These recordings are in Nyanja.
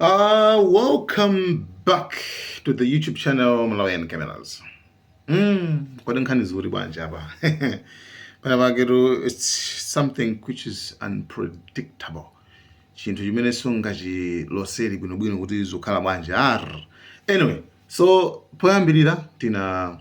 Uh, welcome back to the YouTube channel Malawian Cameras. Mm, kodi nkhani zikuti bwanji apa. Panapatu it's something which is unpredictable. Chinthu chimene sungachiloseri bwinobwino kuti zikhala bwanji. Anyway, so poyambirira tina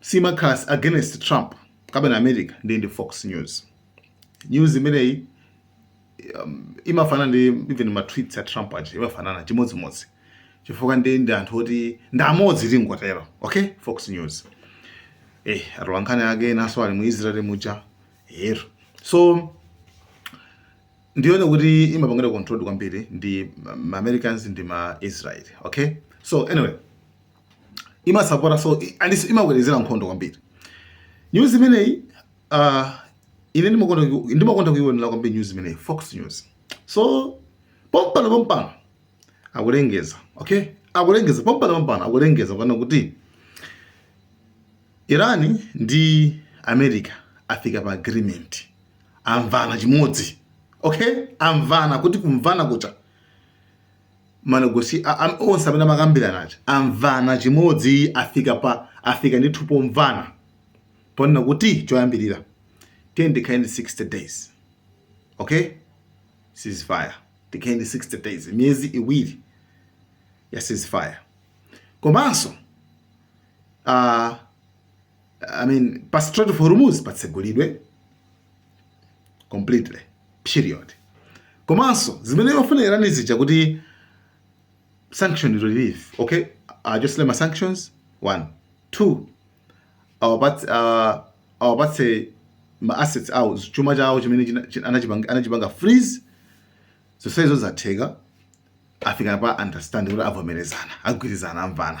simakhala against Trump kapena America ndi ndi Fox News. News imeneyi um, imafanana ndi even ma tweets a Trump aja imafanana chimodzimodzi chifukwa ndi ndi anthu oti ndi amodzi tingotero okay Fox News eh atolankhani ake enanso ali mu Israel muja ero so ndione kuti imapangidwa controlled kwambiri ndi ma Americans ndi ma Israel okay so anyway imasapota so and imakwezera nkhondo kwambiri news imeneyi uh, ine ndimakonda ndimakonda kuionera kwambiri news imeneyi fox news so pompano pompano akulengeza okay akulengeza pompano pompano akulengeza kunena kuti Iran ndi America afika pa agreement amvana chimodzi okay amvana kuti kumvana kuja manegosi a, am, onse amene amakambirana aja amvana chimodzi afika pa afika ndithu pomvana kunena kuti choyambirira tiyeni tikhale ndi 60 days okay ceasefire tikhale ndi 60 days miyezi iwiri ya ceasefire komanso uh, I mean, pa Strait of Hormuz patsegulidwe completely period komanso zimene amafuna Iran zija kuti sanction relief okay awachotsere ma sanctions one two awapatse ah, awapatse ma assets awo chuma chawo chimene china- china- anachipanga anachipanga freeze zonse izo zatheka afika pa understanding kuti avomerezana agwirizana amvana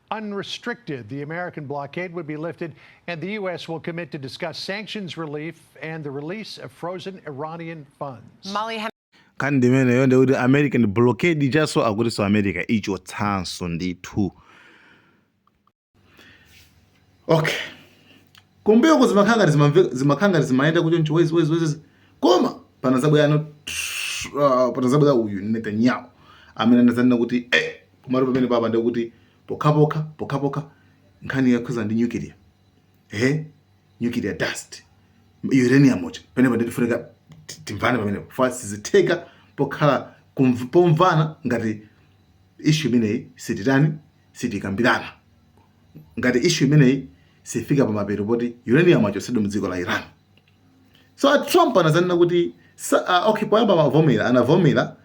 unrestricted, the American blockade would be lifted, and the U.S. will commit to discuss sanctions relief and the release of frozen Iranian funds. Molly nkhani ndi imeneyo ndikuti american blockade ijanso akutinso america ichotsanso ndithu okay kumbuyo ko zimakhala ngati zimamve- zimakhala ngati zimayenda choncho wezi wezi wezi koma panazabwera ano uh, panazabwera uyu netanyahu amene anazanena kuti eh, komatu pamenepapa ndekuti pokhapokha pokhapokha nkhani yokhudza ndi nuclear eh nuclear dust uranium uja pamenepo nde tifunika ti- timvane pamenepo fa sizitheka pokhala kumv- pomvana ngati ishu imeneyi sititani sitikambirana ngati ishu imeneyi sifika pamapeto poti uranium achotsedwe mu dziko la iran so a trump anazanena kuti sa- ah, okay poyamba amavomera anavomera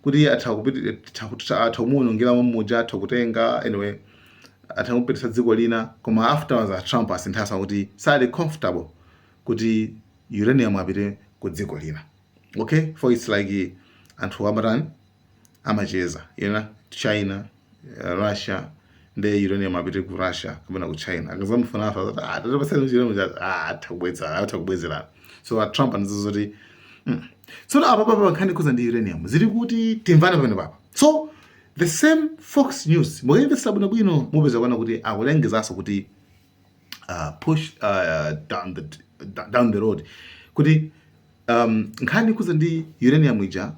kuti atha kupiti- atha kuti- atha kumuwonongera mamuja atha kutenga anyway atha kupititsa dziko lina koma afterwards a trump asinthanso kuti sali comfortable kuti uranium apite ku dziko lina okay for its like anthu amatani amacheza ena China, Russia nde uranium apite ku Russia kapena ku China akazamufuna afa azati ah tatipatsani uranium ija ah atha kubwezera atha kubwezera so a Trump anazo zoti mm. so apapa nkhani kuza ndi uranium zili kuti timvane pamenepapa so the same Fox News mukayimvetsera bwino bwino mupeza kuona kuti akulengezanso kuti uh, push uh, down the down the road kuti um, nkhani yokhudzana ndi uranium ija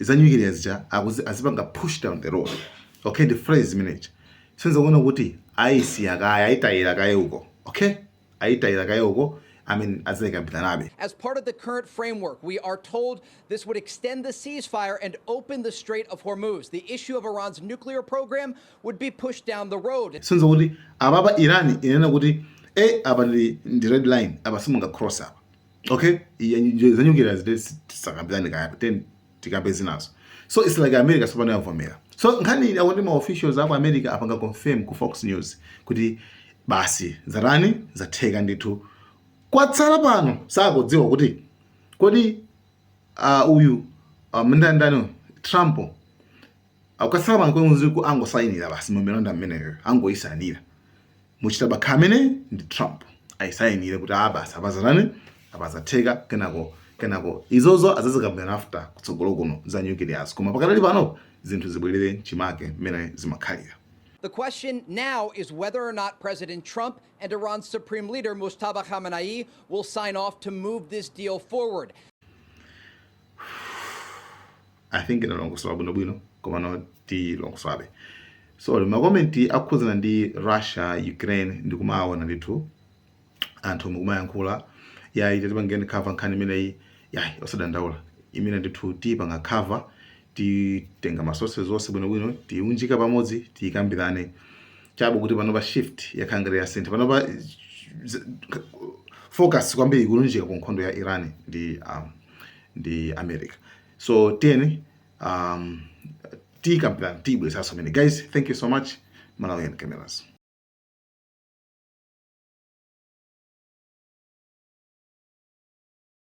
za nyukiliya zija akuzi azipanga push down the road okay ndi phrase imeneji senza kuona kuti aisiya kaye aitayira kaye uko okay aitayira kaye uko I mean, as they As part of the current framework, we are told this would extend the ceasefire and open the Strait of Hormuz. The issue of Iran's nuclear program would be pushed down the road. Since kuti ababa Iran inena kuti eh aba ndi red line aba simunga cross up. okay za nyukiliya zi tisakambirane kaye then tikambe zinazo so it's like america sopano yavomera so nkhani ili akuti maofficials aku america apanga confirm ku fox news kuti basi zatani zatheka ndithu kwatsala pano sakudziwa kuti kodi uh, uyu uh, mtundu wa a trump Akukatsala pang'ono kuti mzukulu angosayinira basi memorandum imeneyo angoyisayinira Mojtaba Khamenei ndi Trump ayisayinire kuti a basi apa zatani apa zatheka kenako kenako izozo azazikambirana after kutsogolo kuno za nuclear zo koma pakadali pano zinthu zibwerere chimake mmene zimakhalira. The question now is whether or not President Trump and Iran's Supreme Leader Mojtaba Khamenei will sign off to move this deal forward. i think ndalongosola bwinobwino komano tilongosola so makomenti okhudzana ndi russia ukraine ndikumaawona ndithu anthu mukumayankhula yayi tatipangireni cover nkhani imeneyi yayi osadandaula imene ndithu tiyipanga cover titenga masources onse bwinobwino tiunjika pamodzi tiyikambirane chabe kuti panopa shift yakhala ngati yasintha panopa z- z- focus kwambiri ikulunjika ku nkhondo ya iran ndi um, ndi america so tiyeni um, tiyikambirana tiyibweresanso mene guys thank you so much malawian cameras